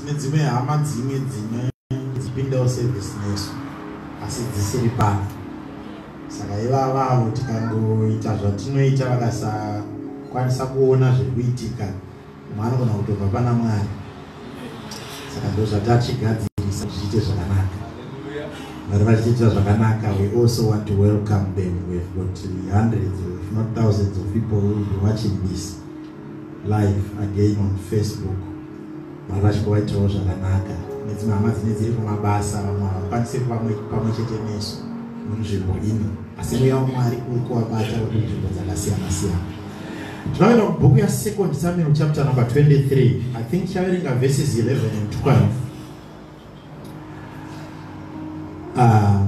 tine dzimwe hama dzimwe dzine dzipindawo service nesu asi dzisiri pano saka ivavavo tikangoita zvatinoita vakasakwanisa kuona zviri kuitika umwe anogona kutobva pana mwari saka ndo zvatachigadzirisa zvichiite zvakanaka vari vachiita zvakanaka we also want to welcome them we've got hundreds if not thousands of people will be watching this live again on facebook vana vachibva vaitawo zvakanaka nedzimwe hama dzine dziri kumabasa vamwe havakwanise pamwe chete nesu munzvimbo ino asi mweya wamwari uri kuvabata uri munzvimbo dzakasiyana siyana tinoenda mubhuku yasecond samuel chapter number 23 i think chaverenga verses 11 and 12 uh, ah,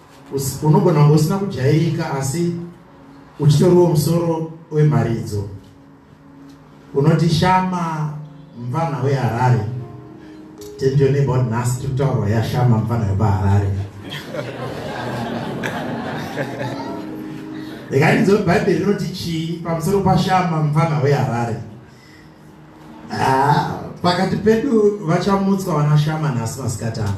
Unogona kunge usina kujairika asi uchitoriwo musoro wemharidzo unoti shama mvana weharare tendionebod nhasi tiri kutaurwa yashama mvana wepaharare rega ndinzwe bhaibheri rinoti chii pamusoro pashama mvana weharare Ah, pakati pedu vachamutswa vana shama nhasi masikati ana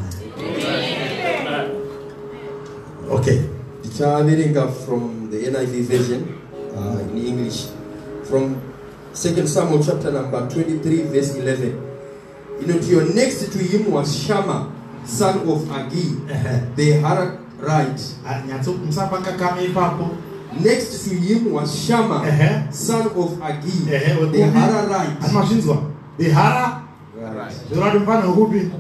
okay tichaverenga from the niv version uh, in english from second samuel chapter number 23 verse 11 inoti your next to him was shama son of agi the harak right nyatsomusapangakamwe ipapo next to him was shama son of agi the hara right asi mazvinzwa the hara zvorati mufana wekupi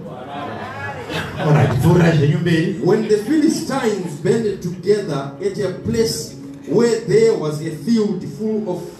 When the Philistines banded together at a place where there was a field full of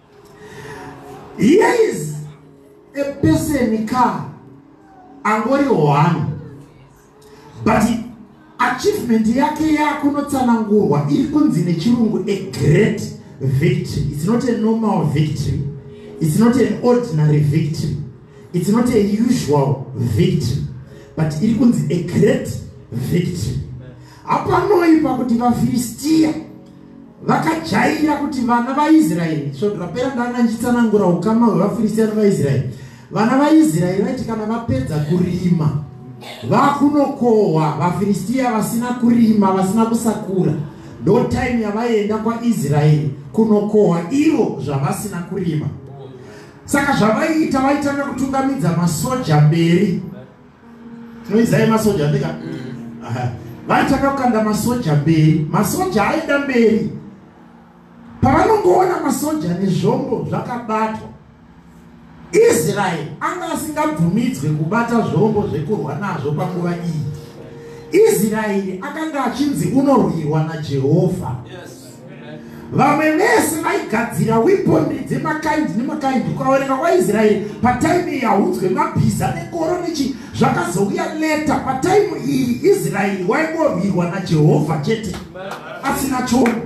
Here is a person ka angori one but achievement yake yakunotsanangurwa iri kunzi nechirungu a great victory it's not a normal victory it's not an ordinary victory it's not a usual victory but iri kunzi a great victory hapanoipa kuti vafiristiya vakajaira kuti vana vaisraeri svondo rapera ndanga ndichitsanangura ukama hwevafiristiya nevaisraeri vana vaisraeri vaiti kana vapedza kurima vakunokohwa vafiristiya vasina kurima vasina kusakura ndo time yavaienda kwaisraeri kunokohwa ivo zvavasina kurima saka zvavaiita vaitanga kutungamidza masoja mberi tinoizai masoja ndika mm. vati takakanda masoja mberi masoja aida mberi pavanongoona masoja nezvombo zvakabatwa israeri anga asingabvumidzwe kubata zvombo zvekurwa nazvo panguva iyi israeri akanga achinzi unorwirwa najehovha yes. vamwe vese vaigadzira weponry dzemakaindi nemakaindi ukaoneka kwaisraeri pataimu iyi haudzwe mabhiza nekoro nechi zvakazouya leta pataimu iyi israeri waingorwirwa najehovha chete asina chono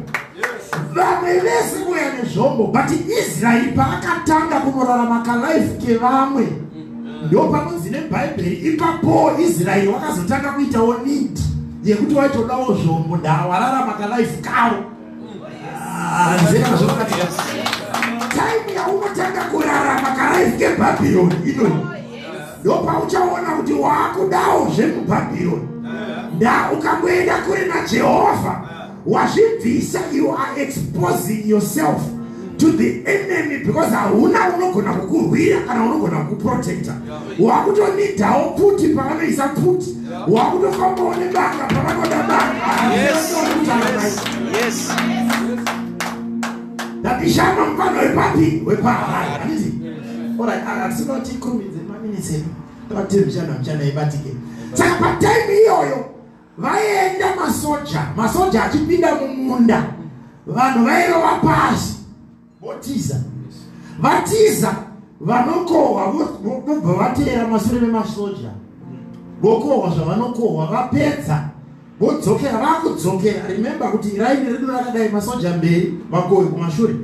vamwe vese kuya nezvombo but israeri paakatanga kunorarama kalife kevamwe ndo panonzi nebhaibheri ipapowo israeri wakazotanga kuitawo nidi yekuti waitodawo zvombo ndaa wararama kalife kavo hanzekazvakatiya time yaunotanga kurarama kalife kebhabhironi inoi ndopauchaona kuti waakudawo zvemubhabhironi ndaa ukangoenda kure najehovha wazvibvisa you are exposing yourself to the enemy because hauna unogona kukurwira kana unogona kukuprotecta wakutonidawo pfuti pavanoisa pfuti wakutofambawo nebanga pavanoda bangaatishama mfano wepapi wepahai anditi orit asinoti kumi dzemanini zenu tavatii mshana mshana ibatike saka patime iyoyo Vaienda masoja, masoja achipinda mumunda, vanhu vairova pasi votiza, vatiza vanokohwa vobva vateera masure vemasoja vokohwa zvavanokohwa vapedza vodzokera vakudzokera remember kuti iraini redu rakadai masoja mberi vakohwi kumashure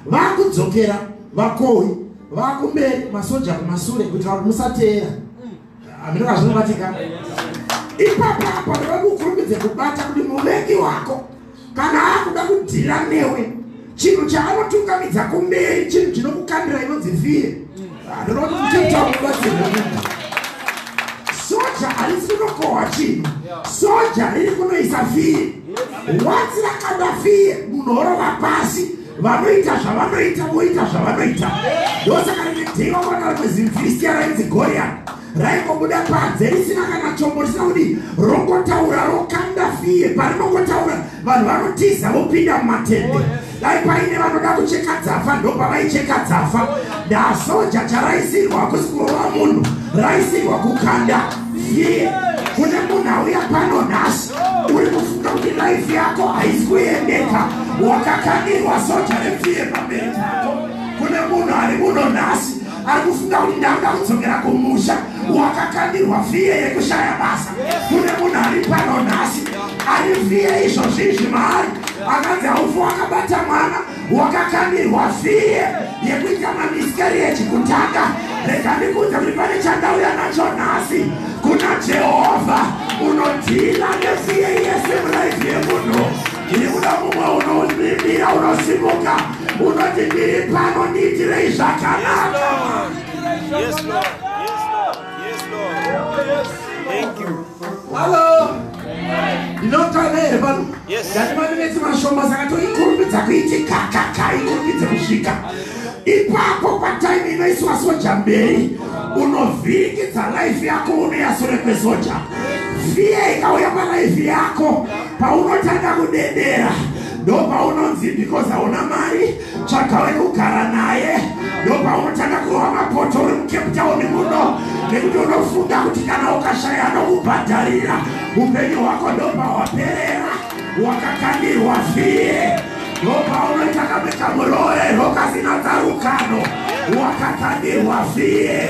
vakudzokera vakohwi vakumberi masoja kumasure kuitira kuti musateera aminoka zvinobatika ipapa panoda kukurumidze kubata kuti muvengi wako kana akuda kudhira newe chinhu chaanotungamidza kumberi chinhu chinokukandira inonzi fire andoda kuti muchetakubatsirwa soja harisi kunokohwa chinhu soja riri kunoisa fire wanzi rakada fire munhu orova pasi vanoita zvavanoita voita zvavanoita ndosaka rimwe dhei vakuranga rimwe zimfiristia rainzi gorian raingobuda panze risina kana chombo risina kuti rongotaura rokanda fiye parinongotaura vanhu vanotiza vopinda mumatende oh, dai paine vanoda kucheka dzafa ndopavaicheka dzafa ndasoja charaisirwa hakusi kurova munhu raisirwa kukanda fiye kune munhu auya pano nhasi uri kufunga kuti life yako haisi kuendeka wakakanirwa soja repfiye pamberi pako kune munhu ari muno nhasi ari kufunga kuti ndanga kudzokera kumusha wakakanirwa fiye yekushaya basa kune munhu ari pano nhasi ari fiye izvozvi izvi maari akanzi haufu wakabata mwana wakakandirwa fee yekuita mamiscarriage kutanga rega ndikuudze kuti pane chandauya nacho nhasi kuna jehovha unodhila nefee yese muraifi yemunhu ndiri kuda mumwe unovimbira unosimuka unoti ndiri pano ndiitirei zvakanaka yes, Lord. Yes, Lord. Yes. Thank you. Hello. Ndinotanga here pano? Yes. Ndatimaminetsi mashoma saka toikurumbidza kuiti kakaka ikurumbidze kusvika ipapo pataimi inoiswa soja mberi unovhiringidza life yako unoyasure kwesoja fiya ikauya palife yako paunotanga kudedera ndopaunonzi because hauna mari tsvaga wekugara naye ndopaunotanga kurova mapoto uri mucape town muno nekuti unofunga kuti kana ukashaya anokubhadharira upenyu hwako ndopahwaperera wakakandirwa fie ndopaunoita kamwe kamuroero kasina tsarukano wakakandirwa fie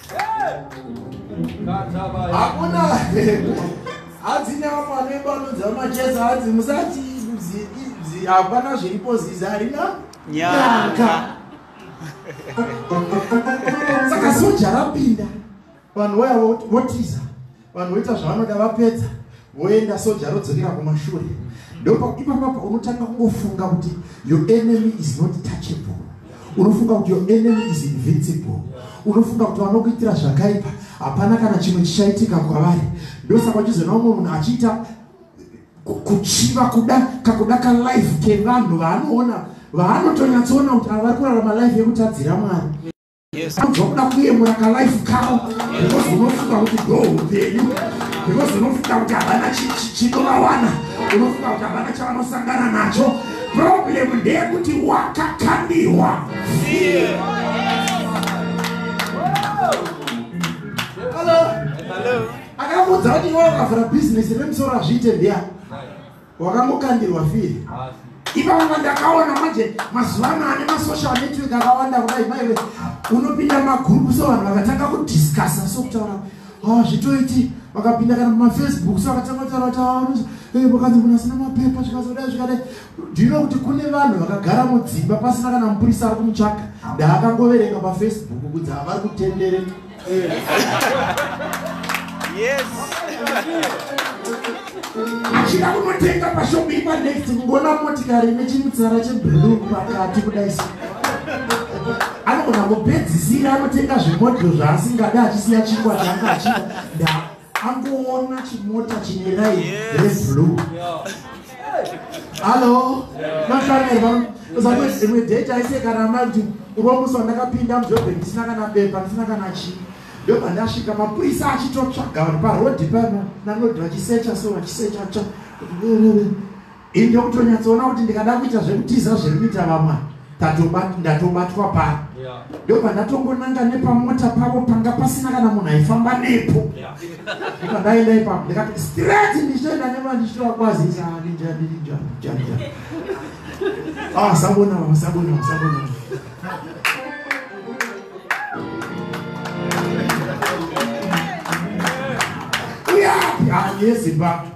hakuna hadzi nyama anoibanudza machesa hadzi musati hapana zviripo zizi harina nyaka saka soja rapinda vanhu vaya votiza vanhu voita zvavanoda vapedza voenda soja rodzokera kumashure ndopa ipapapa unotanga kungofunga kuti your enemy is not touchable unofunga kuti your enemy is invincible unofunga kuti vanokuitira zvakaipa hapana kana chimwe chichaitika kwavari ndosaka uchizoona umwe munhu achiita kuchiva kuda kakuda kalife kevanhu vaanoona vaanotonyatsoona kuti avari kurarama life yekutadzira mwari anozokuda kuyemura kalife kawo because unofunga kuti ndo upenyu because unofunga kuti havana chinovawana unofunga kuti havana chavanosangana nacho problem ndeyekuti wakakandirwa akamuudza kuti iwe wakavhura bhizinesi remusoro azviite ndiyani wakangokandirwa firi ipavanga ndakaona manje mazuva ano ane masocial network akawanda kudai maive unopinda magrupu so vanhu vakatanga kudiscussa so kutaura ah, zvitoiti vakapinda kana mumafacebook so vakatanga kutaura kuti ah, eh, vakanzi munhu asina mapepa zvikazodai zvikadai ndino kuti kune vanhu vakagara mudzimba pasina kana mupurisa ari kumutsvaga ndaakangoverenga pafacebook kunzi havari kutendereka yes chida kunotenga pashop ipanext kungona motikari ine chimutsara cheblue pakati kudai so anogona kupedzisira anotenga zvimodhiro zvaasingada achisiya chingwa changa achida angoona chimota chine rai reblue hallo mafanirwa uzamwe dzimwe date aise kana mai kuti uromusi wandakapinda mudhorobhe ndisina kana bepa ndisina kana chii ndobva ndasvika mapurisa achitotsvaga vanhu parodi pano nanodhi vachisecha so vachisecha tsva Ini ndokutonyatsoona kuti ndikada kuita zvekutiza zvekuita vamwa ndatobatwa pano ndobva ndatongonanga nepamota pavo panga pasina kana munhu aifamba nepo ndobva ndaenda ipapo ndikati straight ndichitoenda nema ndichitora kwazisa asabona ah, asabona asabona uyapi ah, yezimbabwe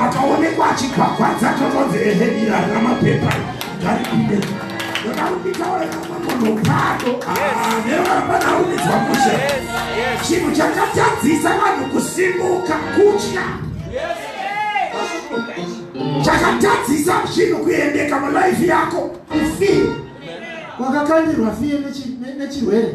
akaonekwa achigwagwadza totonzi ehe iri harina mapepa ngaripinde ndodakuitaoeamonopado nevapanaumidzwa ah, mushe chinhu chakatadzisa vanhu kusimuka kutya chakatadzisa zvinhu kuendeka mulaifi yako kufi wakakandirwa fiye nechirwere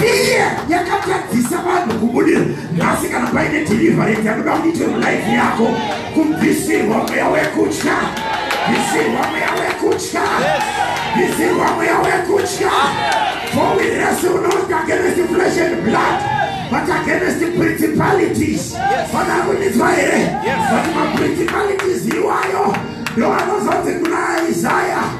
Fear yakatadzisa vanhu kubudira nhasi kana paine deliverance anoda kuitwe mulife yako kubvisirwa mweya wekutya bvisirwa mweya wekutya bvisirwa mweya wekutya for we wrestle not against flesh and blood but against principalities vanakunitswa here vati maprincipalities iwayo ndoanozonzi kuna isaya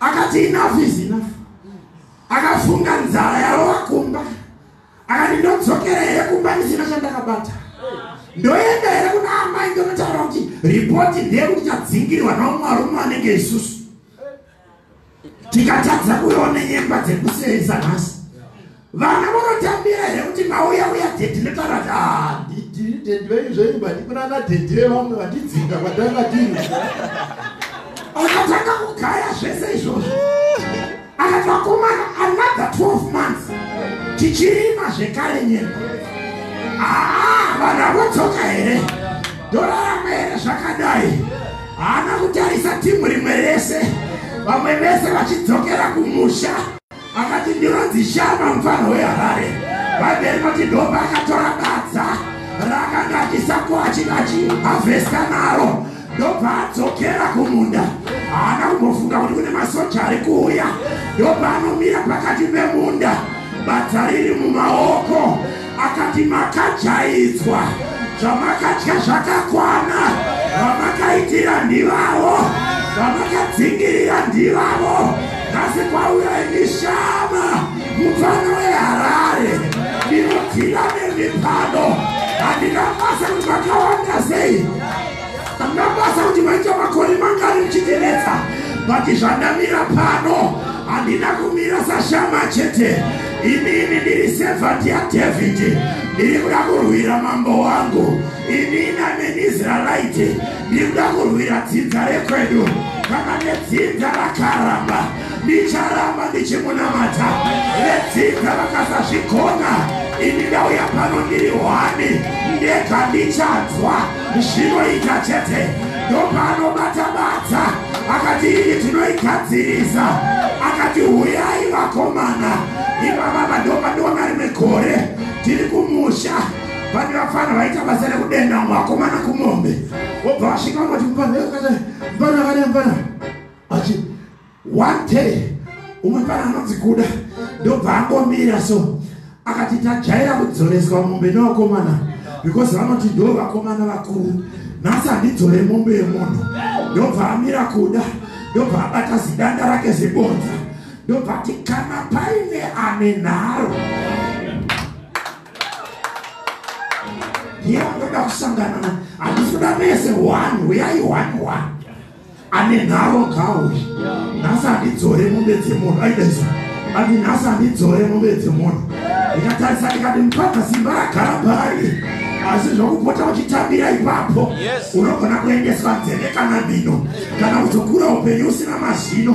akati enough is enough akafunga nzara yarova kumba akati ndodzokera here kumba ndisina chandakabata ndoenda here kuna amai ndonotaura kuti ripoti ndeyekuti tadzingirwa naumwe arume anenge isusu tikatadza kuiona nyemba dzekuseyisa nhasi Vana vonotambira here kuti mauya uya dedi ndotaura kuti ah, ndidii dedi venyu zvenyu bati kuna ana dedi vevamwe vandidzinga kwatanga tiri akatanga kugaya zvese izvozvo akati vakomana another 12 months tichirima zvekare nyemba aa vanhu avotsoka here ndorarama here zvakadai haana kutarisa timu rimwe rese vamwe vese vachidzokera kumusha Akati ndinonzi Shama mfana weHarare. Vabheri vati ndomba akatora badza raakanga achisakwa achiti achihavhesta naro ndobva adzokera kumunda. Haana kumbofunga kuti kune masoja ari kuuya. Ndobva anomira pakati pemunda badza riri mumaoko akati makajaidzwa zvamakadya zvakakwana vamakaitira ndivavo vamakadzingirira ndivavo nhasi kwauya ini shama mupfana weharare ndinodhira nemipano handina basa kuti vakawanda sei angabasa kuti maita makore mangani muchitenetsa but zvandamira pano handina kumira sashama chete inini ndiri sevhati yadhavhidhi ndiri kuda kurwira mambo wangu inini amenisraelite ndiri kuda kurwira dzinza rekwedu kana nedzinza rakaramba ndicharamba ndichimunamata vedzinza vakasazvigona ini ndauya pano ndiri hwani ndega ndichanzwa zvinoita chete ndopaanobata badza akati iyi tinoigadzirisa akati huyai vakomana ivava vandopandiona rimwe gore tiri kumusha vane vafana vaita basa rekudenda mumwe vakomana kumombe wobva vasvika vanoti mupana akadai mupana akadai mupana achi one day umwe pana anonzi kuda ndobva angomira so akati tajaira kudzoreswa mombe nevakomana because vanoti ndo vakomana vakuru nhasi handidzore mombe yemunhu ndobva amira kuda ndobva abata zidanda rake zibonza ndobva ti kana paine ane nharo ndiye andoda kusangana handisi kuda mese one huyai one one ane nharo ngauye nhasi andidzore mombe dzemunhu aidaiso ati nhasi andidzore mombe dzemunhu ndikatarisa ndikati mupaka simba ragara paari asi zvokupota uchitambira ipapo unogona kuendeswa nzeve kana mino kana kuzokura upenyu usina mazino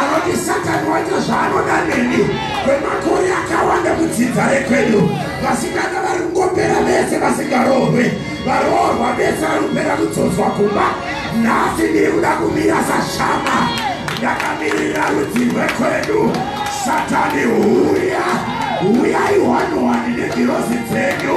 anoti satani waita zvaanoda neni kwemakore akawanda mudzidza rekwedu vasikana vari kungopera vese vasingaroorwe varoorwa vese vari kupera kudzodzwa kumba nhasi ndiri kuda kumira sashama ndakamiririra rudzi rwekwedu satani huya huyai hwanowani negirozi dzenyu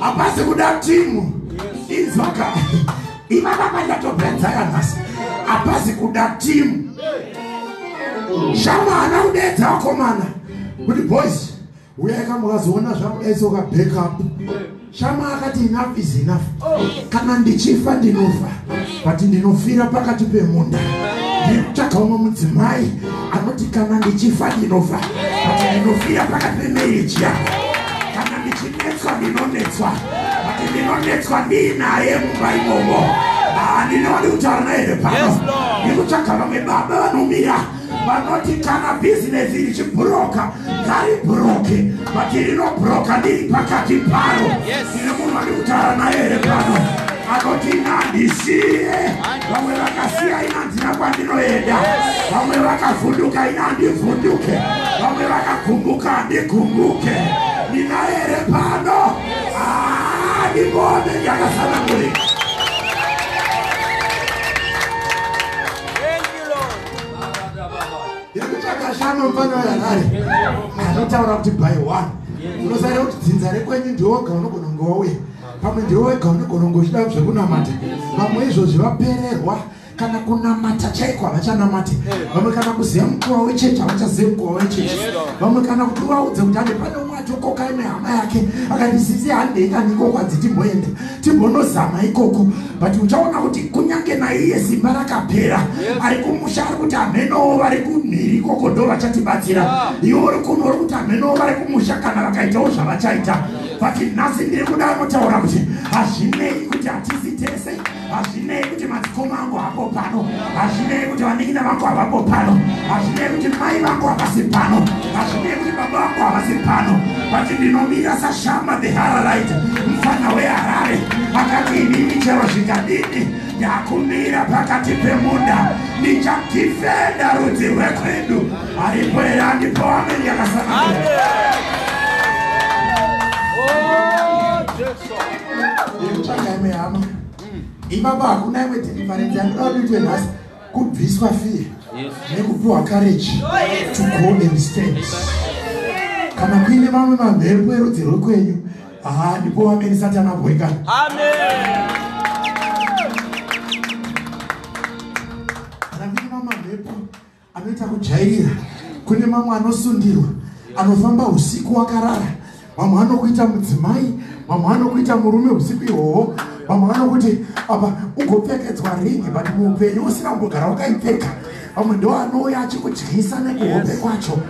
hapasi kuda timu inzwaka ivava vachatopedza yanhasi hapasi kuda timu shama hana kudeedza vakomana kuti boys uyaika mukazoona zvakudaisa ukabackup Shama akati enough is enough. Kana ndichifa ndinofa but ndinofira pakati pemunda. Ndikutsvaga umwe mudzimai anoti kana ndichifa ndinofa but ndinofira pakati pemarriage yako. Kana ndichinetswa ndinonetswa but ndinonetswa ndiinaye mumba imomo. Ah, ndinoda kutaura naye here pano? Yes, Lord. Ndikutsvaga vamwe baba vanomira vanoti kana bhizinesi richibhuroka ngaribhuroke vati rinobhuroka ndiri pakati paro ine munhu vari kutaura naye here pano anoti inandisiye vamwe vakasiya inandina kwandinoenda vamwe vakavhunduka inandivhunduke vamwe vakagumbuka andigumbuke ndinaye here pano ah, ndimone ndakasanangurika irikuchakashama mfana weharare anotaura kuti by one unosarira kuti dzinza rekwenyu ndiwoga unogona kunge wauya pamwe ndiwo wega unogona kunge uchida zvekunamata vamwe izvozvi vapererwa kana kunamata chaiko havachanamate vamwe kana kuziva mukuva wechechi havachazive mukuva wechechi vamwe kana kuti uvaudze kuti ane pane umwe atokoka ine hama yake akati sisi handei kanikoko adziti mboenda timbonozama ikoku but uchaona kuti kunyange naiye simba rakapera ari kumusha ari kuti amhenowo vari kumhiri ikoko ndo vachatibatsira ah. iwe uri kuno uri kuti amhenowo vari kumusha kana vakaitawo zvavachaita but nhasi ndiri kuda anotaura kuti hazvinei kuti hatizi tese hazvinei kuti madzikoma angu hapo pano hazvinei kuti vanin'ina vangu havapo pano hazvinei kuti mai vangu havasi pano hazvinei kuti baba vangu havasi pano vati ndinomira sashamba the haralite mfana weharare akati inini chero zvikadini ndakumira pakati pemunda ndichadifenda rudzi rwekwedu aripo here andipo ameni yakasanaa ipapa hakuna imwe deliverance yandinoda kuti itwe nhasi kubviswa fear nekupiwa courage to go and stand kana kuine mamwe mamhepo erudzi rwekwenyu haa ndipo wamene satani abhoika kana kuine mamwe mamhepo anoita kujairira kune mamwe anosundirwa anofamba usiku wakarara mamwe anokuita mudzimai mamwe anokuita murume usiku ihwohwo mamwe anokuti apa ugopfekedzwa ringi but muupenyu usina kumbogara wakaipfeka vamwe ndoanouya achikudyisa nekuhope kwacho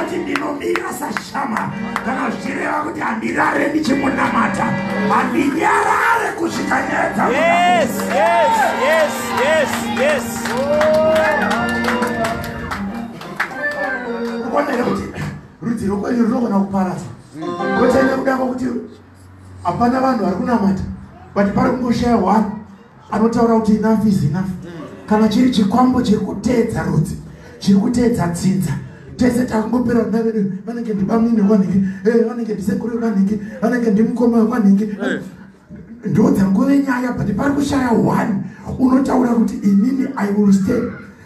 oti ndinomira sashama kana zvichireva kuti handirare ndichimunamata handinyarare kusvika nyaya dzaa yes, yes, yes, yes, yes. kukonere kuti rudzi rwokwenyu runogona kuparadza kotene kuda kwakuti hapana vanhu vari kunamata but pari kungoshaya one anotaura kuti enough is enough kana chiri chikwambo chiri kuteedza rudzi chiri kuteedza dzinza tese takangopera vana vedu vanenge ndibamnini vanhingi eh, vanenge ndisekuru vanhingi vanenge ndimukoma vanhingi eh. ndoudza nguve nyaya but pari kushaya one unotaura kuti inini i will stay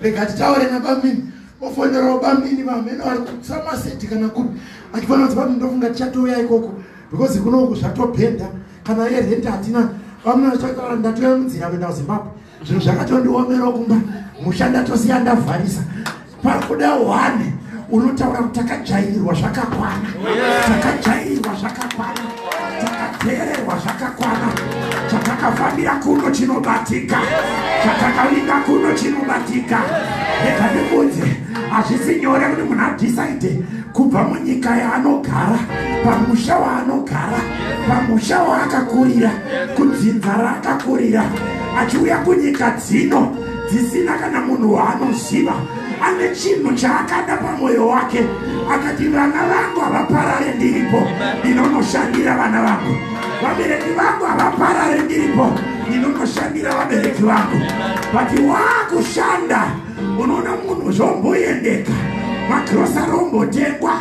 rega titaure nabamini ofonerawo bamini vamene vari kutsamaseti kana kuri achifanira kuti bamini ndofunga tichatouya ikoko because kunoku zvatobhenda kana ye rent hatina bamini vachitaura ndatouya munzira kuenda kuzimbabwe zvinhu zvakatondiomerawo kumba musha ndatosiya ndavharisa pakuda one unotaura kuti takajairirwa zvakakwana takajairirwa zvakakwana takateererwa zvakakwana chatakafambira kuno chinobatika chatakavinga kuno chinobatika rega ndikunzi hazvisi nyore kuti munhu adhisaide kubva munyika yaanogara pamusha waanogara pamusha waakakurira kudzinza raakakurira achiuya kunyika dzino dzisina kana munhu waanoziva ane chinhu chaakada pamwoyo wake akati vana vangu havaparare ndiripo ndinonoshandira vana vangu vabereki vangu havaparare ndiripo ndinonoshandira vabereki vangu but waakushanda unoona munhu zvomboendeka magrosari ombotengwa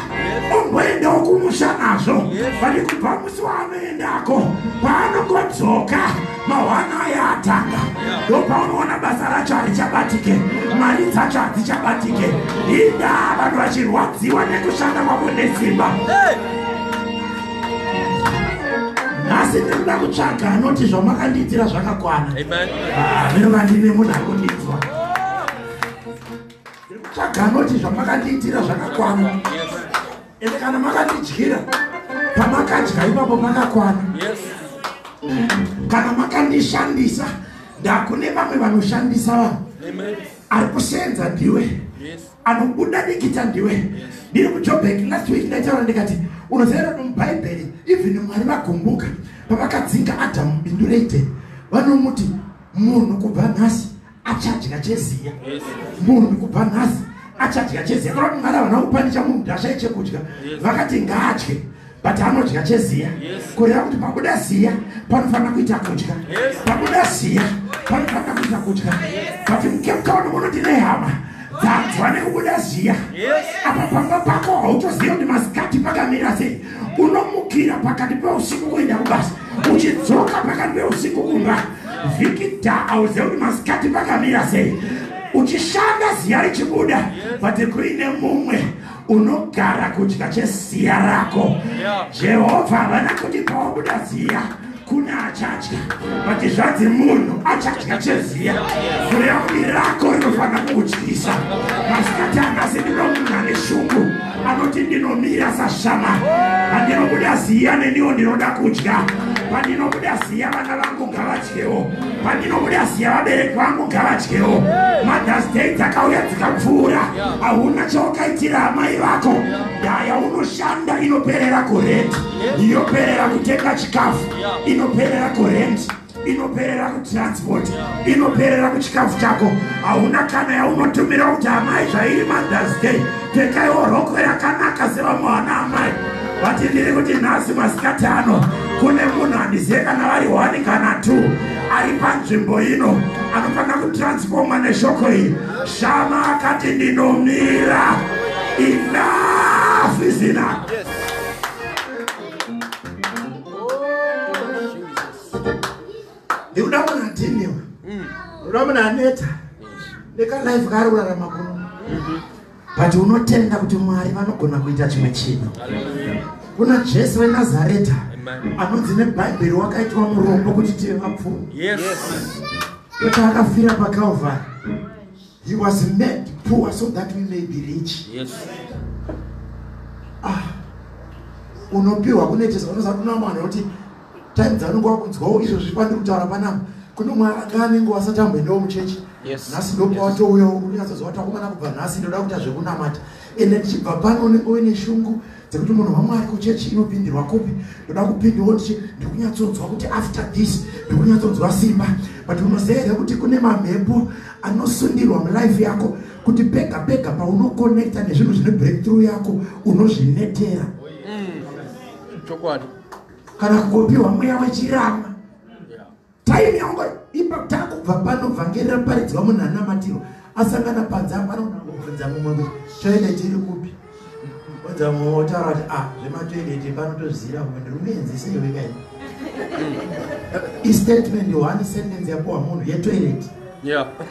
omboendawo kumusha nazvo vati kubva musi waanoendako paanongodzoka mahwana aya atanga ndopaunoona basa racho harichabatike mari dzacho hadzichabatike inda vanhu vachirwadziwa nekushanda kwavo nesimba nhasi ndinoda kutsvaga anoti zvamakandiitira zvakakwana ah, ndinoda ndine munhu akundidzwa ndikutsvaga anoti zvamakandiitira zvakakwana ende kana makandidyira pamakadya ipapo makakwana kana makandishandisa ndakune vamwe vanoshandisa vanhu ari kusenza ndiwe anobuda dikita ndiwe ndiri kujobek last week ndaitaura ndikati unozaira kuti mubhaibheri even mwari vagumbuka pavakadzinga adhamu bindu reite vanomuti munhu kubva nhasi achadya cheziya murwi kubva nhasi achadya cheziya kana kuti mwari havana kupanisha munhu kuti ashaye chekudya vakati ngaadye but anodya cheziya kureva kuti pabuda ziya panofanira kuita kudya pabuda ziya panofanira kuita kudya but mukepkaoni muno tine hama dzanzwa nekubuda ziya apa pamba pako hautoziva kuti masikati pakamira sei unomukira pakati peusiku kuenda kubasa uchidzoka pakati peusiku kumba vikita auziva kuti masikati pakamira sei uchishanda ziya richibuda but kuine mumwe unogara kudya cheziya rako jehovha havana kuti pawabuda ziya Kune achatya but zvanzi munhu achatya cheziya kureya kuti rako rinofanira kukutyisa masikati anasi ndinomunhu ane shungu anoti ndinomira sashama pandinobuda ziya neniwo ndinoda kudya pandinobuda ziya vana vangu ngavadyewo pandinobuda ziya vabereki vangu ngavadyewo mothers day dzakauya dzikapfuura hauna chawakaitira amai vako ndaya unoshanda inoperera kureti inoperera kutenga chikafu inoperera kurent inoperera kutransport inoperera kuchikafu chako hauna kana yaunotumira kuti amai zvairi mothers day pekaiwo rokwe rakanaka sevamwe vana amai vati ndiri kuti nhasi masikati ano kune munhu handizive kana vari one kana two ari panzvimbo ino anofanira kutransfoma neshoko iyi shama akati ndinomira enough is enough ndikuda munhu adhiniwa mm. unoda munhu aneta nekalife kaari kurarama kuno mhm. but unotenda kuti mwari vanogona kuita chimwe chinhu kuna jesu wenazareta anonzi nebhaibheri wakaitwa murombo kuti tive vapfumi kuti akafira pacalvari He was made poor so that we may be rich. Yes. Ah. Unopiwa kunetesa unoza kuna mwana kuti time dzanonga wakunzwawo izvo zviri pandiri kutaura panapa kune umwe anga anenge wasatamboendawo muchechi nhasi ndopa watouyawo unyatsozowatakomana kubva nhasi ndoda kuita zvekunamata ende ndichibva pano unenge uine shungu dzekuti munhu wamwari kuchechi inopindirwa kupi ndoda kupindawo ndichi ndikunyatsodzwa kuti after this ndikunyatsodzwa simba but unoziva here kuti kune mamhepo anosundirwa mulife yako kuti pega pega paunokonekta nezvinhu zvine breakthrough yako unozvinetera mm. chokwadi kana kukopiwa mweya wechirama time yangu ipa takubva pano vhangeri raparidzwa munhu anamatirwa asangana panze apanoda kubvunza mumwe kuti toende tiri kupi odza mumwe otaura kuti ah zvematoendete pano tozvizira kumwe ndiri kuenzisa iwe kai istatement one sentence yapuwa munhu yetoilet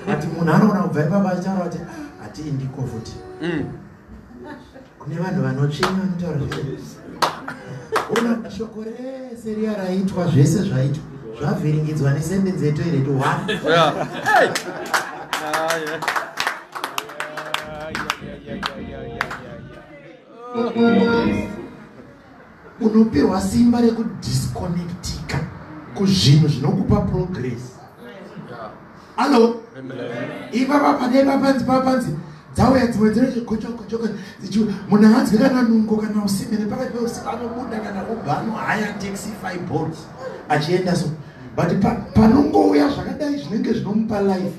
ati munhu anoona kubva ipapa achitaura kuti ah, hatii ndiko futi mm. kune vanhu vanotsvenya vanotaura zvese una shoko rese riya raitwa zvese zvaitwa zvavhiringidzwa nesendenzi yetoilet one Yeah. Unopihwa simba rekudisconnectika kuzvinhu zvinokupa progress. Allo? Ipapa padai papanzi papanzi dzauya dzimwe dzinochigochogochogo munhu hanzwi kana nungo kana usime nepakati peusiku anobuda kana ubva anohaya taxi five boards achienda so but panongouya zvakadai zvinenge zvinomupa life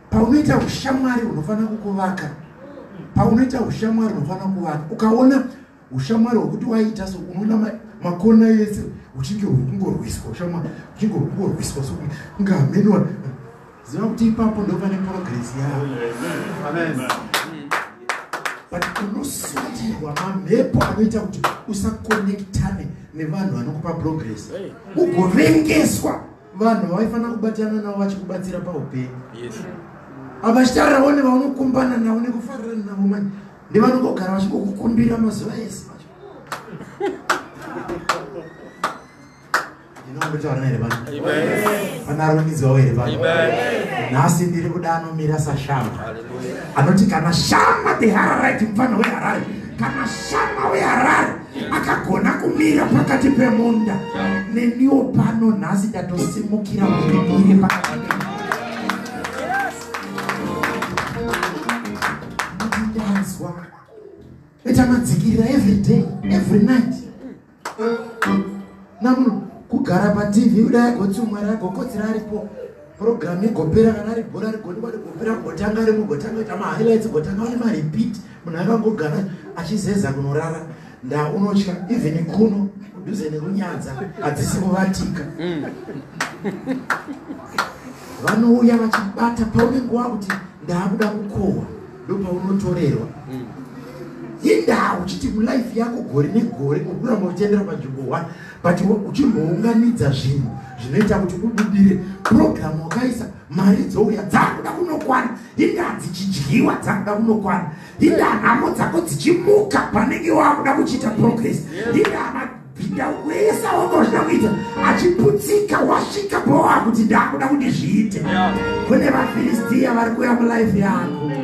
paunoita ushamwari unofanira kukuvaka paunoita ushamwari unofanira kuvaka ukaona ushamwari hwekuti waiita so unoona makona yese uchinge hwekungorwiswa ushamwari uchinge hwekungorwiswa so kunge hamenwa ziva kuti ipapo ndo pane progress yavo but unoswatirwa mamhepo anoita kuti usakonektane nevanhu vanokupa progress ugovengeswa hey. vanhu vavaifanira kubatana navo vachikubatsira paupenyu avachitarirawo nevaunokumbana navo nekufarira navo mani nevanongogara vachingokukumbira mazuva ese vacho ndinombetaura here vana vanarumidzwawo here vana nhasi ndiri kuda anomira sashama anoti kana shama the hararite mufana weharare kana shama weharare akagona kumira pakati pemunda neniwo pano nhasi ndatosimukira kuimire pakati ndazwa ita madzikirira every day every night namuno kugara patv kudai agoti umwari agokodzera aripo program igopera kana ari bhora rigodiwa rigopera gotanga rimwe gotanga ita mahighlights gotanga ane marepeat munhu akangogara achizeza kunorara nda unotya even kuno kudhuze nekunyadza hadzisi kuvatika mm. vanouya vachibata paunenge wakuti ndaakuda kukohwa ndopaunotorerwa mm. indaa uchiti mulife yako gore negore ukuramba uchitendera panzvimbo one but uchimbounganidza zvinhu zvinoita kuti ubudire purogiramu wakaisa mari dzouya dzakuda kunokwana indaa dzichidyiwa dzakuda kunokwana indaa nhamo dzako dzichimuka panenge wakuda kuchiita progress indaa mabhinda wese wanga uchida kuita achiputsika wasvika pawakuti ndaakuda kuti zviite kune vafiristiya vari kuya mulife yako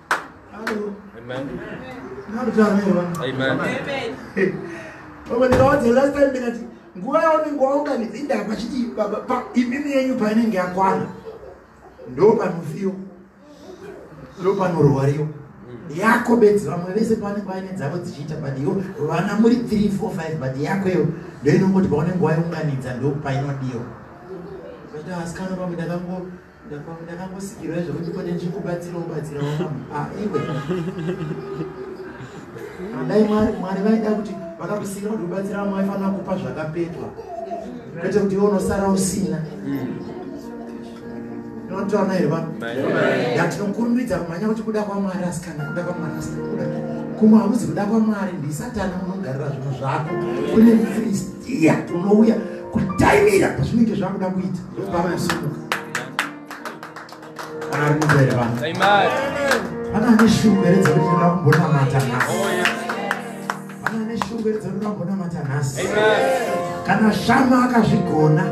nguva yaunenge waunganidza indava pachiti imimi yenyu painenge yakwana ndo panofiwa ndo panorwariwa yako bedzi vamwe vese pavanenge vaine dzavo dzichiita but yo vana muri 3 4 5 but yako iyo ndoinongoti paunenge waiunganidza ndopainodiwa asikana pamwe ndakango ndakangosikirwa zvekuti kone ndikubatsira ubatsira wamaiwe andai mwari mwari vaida kuti vakakusikira kuti ubatsira vamwe vaifanira kupa zvakapetwa kwete kuti iwe unosara usina notaona here vanhu yatinokurumidza kumhanya kuti kuda kwamwari asikana kuda kwamwari asikana kuda kumwe hakuzi kuda kwamwari ndisatana unogarira zvinhu zvako kune mfristiya unouya kutaimira pazvinenge zvakuda kuita kana shama akazvigona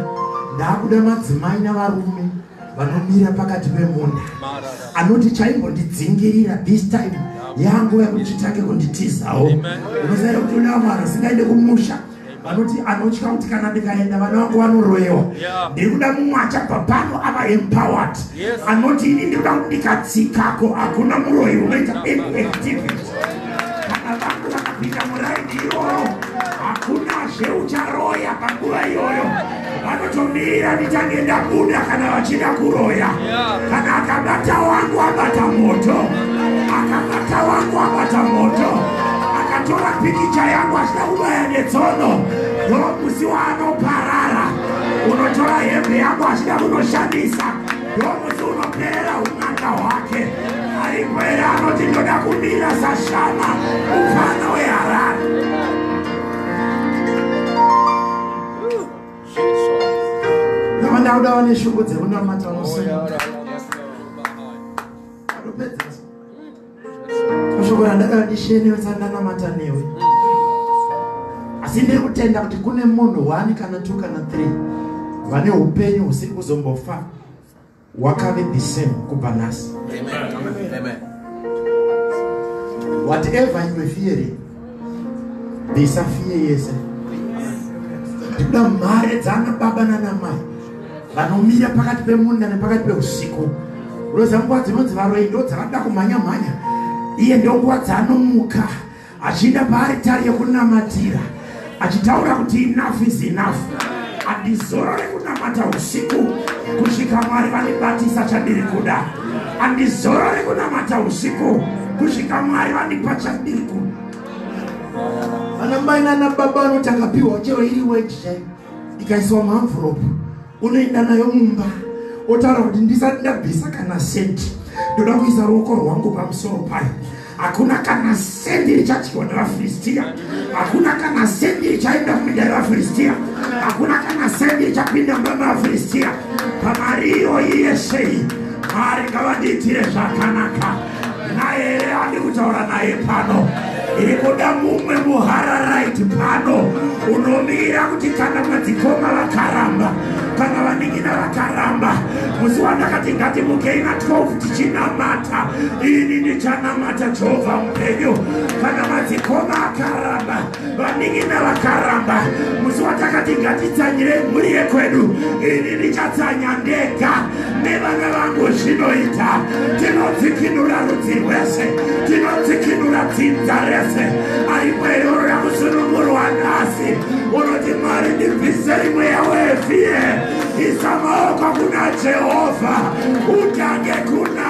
ndaakuda madzimai navarume vanomira pakati pemunda anoti chaimbondidzingirira this time yangu yakuchitange kunditizawo unozaira kuti unaamwari asingaende kumusha vanoti anotya kuti kana ndikaenda vana vangu vanoroyewa ndiri kuda mumwe achabva pano ava empowered anoti ini ndiri kuda kuti ndikatsikako hakuna muroyi unoita activity kana vangu vakapinda muraini iyoyo hakuna zveucharoya panguva iyoyo vanotomira ndichange ndabuda kana vachida kuroya kana akabata wangu abata moto akabata wangu abata moto akatora pikicha yangu achida kubaya netsono no musi waanoparara unotora hembe yangu achida kunoshandisa no musi unoperera un'anga hwake aripere anoti ndoda kumira sashama mupfana weharare ndauda vane shungu dzekunamata unosunga kushoko randakara ndishenewe sandanamata newe asi ndiri kutenda kuti kune munhu one kana two kana three vane upenyu husiri kuzombofa wakave the same kubva nhasi whatever you were fearing bvisa fiye yese ndikuda mhare dzaana baba nanamai vanomira pakati pemunda nepakati peusiku unoziva nguva dzinonzi varoyi ndo dzavanoda kumhanya mhanya iye ndonguva dzaanomuka achiinda paaritari yekunamatira achitaura kuti enough is enough andizorore kunamata usiku kusvika mwari vandibatisa chandiri kuda andizorore kunamata usiku kusvika mwari vandipa chandiri kuda anamai nanababa vanoti akapiwa chero iri weji chai ikaiswa muenvelope unoenda nayo mumba otaura kuti ndisati ndabvisa kana senti ndoda kuisa ruoko rwangu pamusoro payo hakuna kana sendi richadyiwa nevafiristiya hakuna kana sendi richaenda muminda revafiristiya hakuna kana sendi richapinda mumba mevafiristiya pamari iyoyi yesei mari ngavandiitire zvakanaka naye here andi kutaura naye pano iri kuda mumwe muhararaiti pano unomira kuti kana madzikoma vakaramba kana vaningina vakaramba musi wandakati ngatimukei na 12 tichinamata ini ndichanamata jehovha mupenyu kana madzikoma akaramba vanin'ina vakaramba musi watakati ngatitsanyire mhuri yekwedu ini ndichatsanya ndega nevana vangu zvinoita tinodzikinura rudzi rwese tinodzikinura dzinza rese aimweyoro yakusunungurwa nhasi unoti mwari ndibvise imwe yawevie isa maoko kuna jehovha utange kuna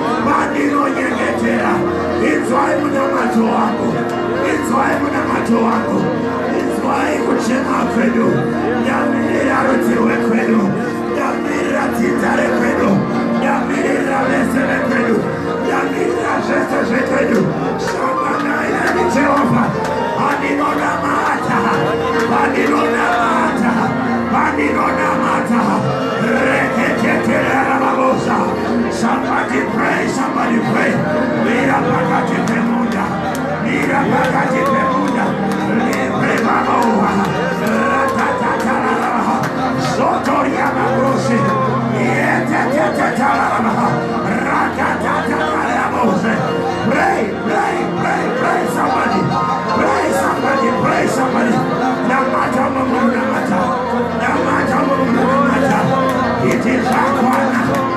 vandinonyengetera inzwai munamato wangu inzwai munamato wangu inzwai kuchema kwedu ndamirira rudzi rwekwedu ndamirira dzinza rekwedu ndamirira vese vekwedu ndamirira zvese zvekwedu shanganai nani jehovha vandinonamata vandinonamata vandinonamata reketeterera vabosa Somebody pray, somebody pray. Mira pakati pemunda, mira pakati pemunda. Libre mamoa, ratatatararama, sotoria mabusi, yetetetetararama, ratatatararamusi. Pray, pray, pray, pray, somebody. Pray, somebody, pray, somebody. Namata mungu, namata. Namata mungu, namata. It is our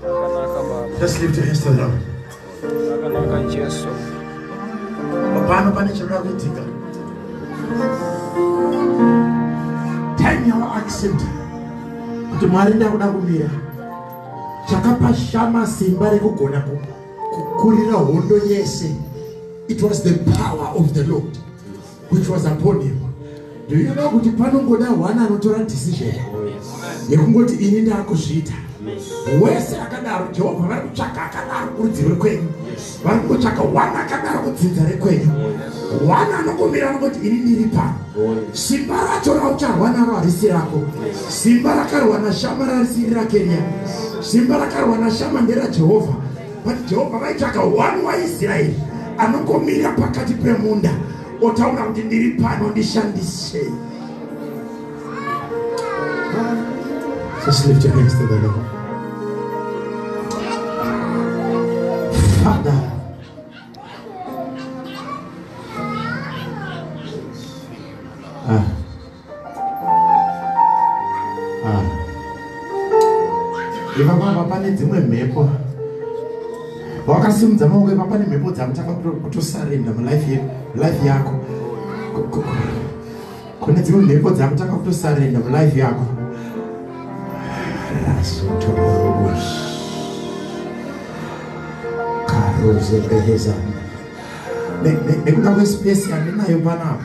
Just lift your hands to the Lord. Pano pane chinoda kuitika. Time yawa accept kuti Mwari ndakuda kumira chakapa shama simba rekugona kukurira hondo yese. It was the power of the Lord. which was upon him do you know kuti panongoda one anotora decision yekungoti ini ndakuzviita wese akadaro jehovha vari kutsvaga akadaro kurudzi rwekwenyu vari kungotsvaga one akadaro kudzinza rekwenyu one anongomira anongoti ini ndiri pano simba racho raucharwa naro harisi rako simba rakarwa nashama rarisiri rakeriya simba rakarwa nashama nderajehovha but jehovha vaitsvaga one waisraeri anongomira pakati pemunda otaura kuti ndiri pano ndishandisei father ah. Ah. ivapapa pane dzimwe mhepo wakasimudza maoko ipa pane mhepo dzamutanga kutosarenda mulife yako kune dzimwe mhepo dzamutanga kutosarenda mulife yako nekuda kwespesi yandinayo panapa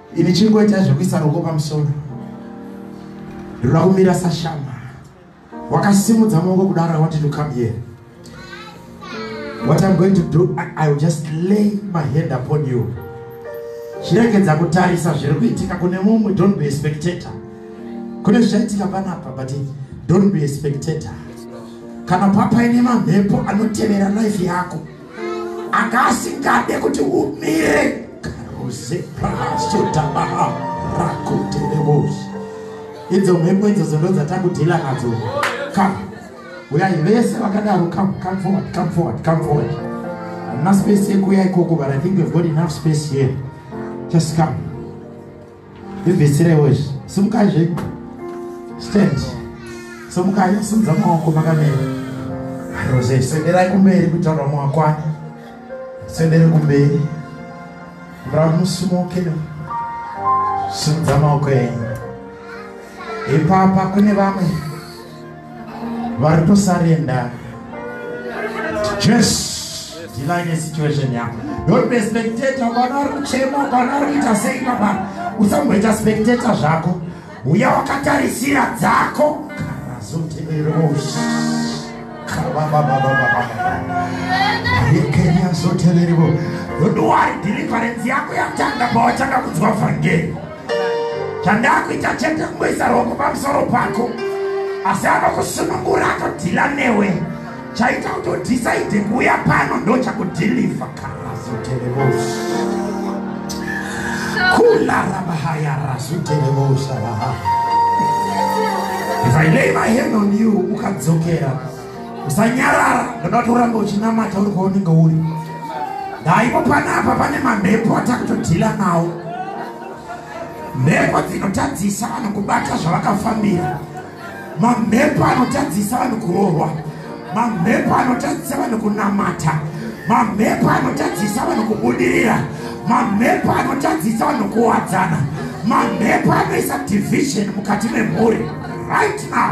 Ini chingoita zvekuisa ruoko pamusoro rinoda kumira sashama wakasimudza maoko kudaro i wanted to come here what i'm going to do i, I will just lay my hand upon you chiregedza kutarisa zviri kuitika kune mumwe don't be a spectator kune zvichaitika panapa but don't be a spectator kana papaine mamhepo anotevera life yako anga asingade kuti umire karuze prasutabaha rakuterevosi idzo mhepo idzo zondo dzatakudhila nadzo ka uyai vese vakadaro come come forward come forward come forward hamuna space yekuuya ikoko but i think we've got enough space here just come Vibvisirewo izvi. Simukai zve. Stand. Simukai simudza maoko makamira. Rose senderai kumberi kuitira kuti vamwe vakwane. Sendere kumberi. Muramu musimuke. Simudza maoko enyu. Ipapa kune vamwe. vari kusarenda jesu ndilanye situation yako don't be spectator ukaona ari kuchema ukaona ari kuita sei baba usamboita spectator zvako uya wakatarisira dzako karazotererosi kababababababaekenyazotererevo don't worry deliverance yako yatanga pawatanga kunzwa vhangeri chandakuita chete kungoisa roko pamusoro pako asi anokusunungura atodhila newe chaita kuti udhisaidhe kuuya pano ndochakudhilivha karazoterevosi kularamahayarazoterevosaaa if i lay my hand on you ukadzokera usanyarara ndoda kuti urambe uchinamata uri kwaunenge uri ndaipo panapa pane mamhepo atakutodhila nawo mhepo dzinotadzisa vanhu kubata zvavakafambira mamhepo anotadzisa vanhu kuroorwa mamhepo anotadzisa vanhu kunamata mamhepo anotadzisa vanhu kubudirira mamhepo anotadzisa vanhu kuwadzana mamhepo anoisa division mukati memhuri right now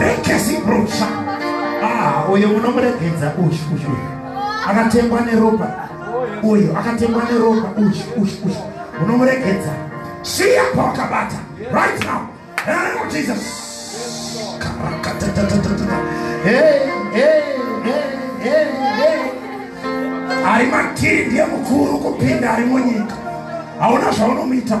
rekesibrusha ah, uyo munomuregedza uyu uyu akatengwa neropa uyu akatengwa neropa uyu uyu uyu munomuregedza siya pawakabata right now name jesus ari matiri ndiye mukuru kupinda ari munyika hauna zvaunomuita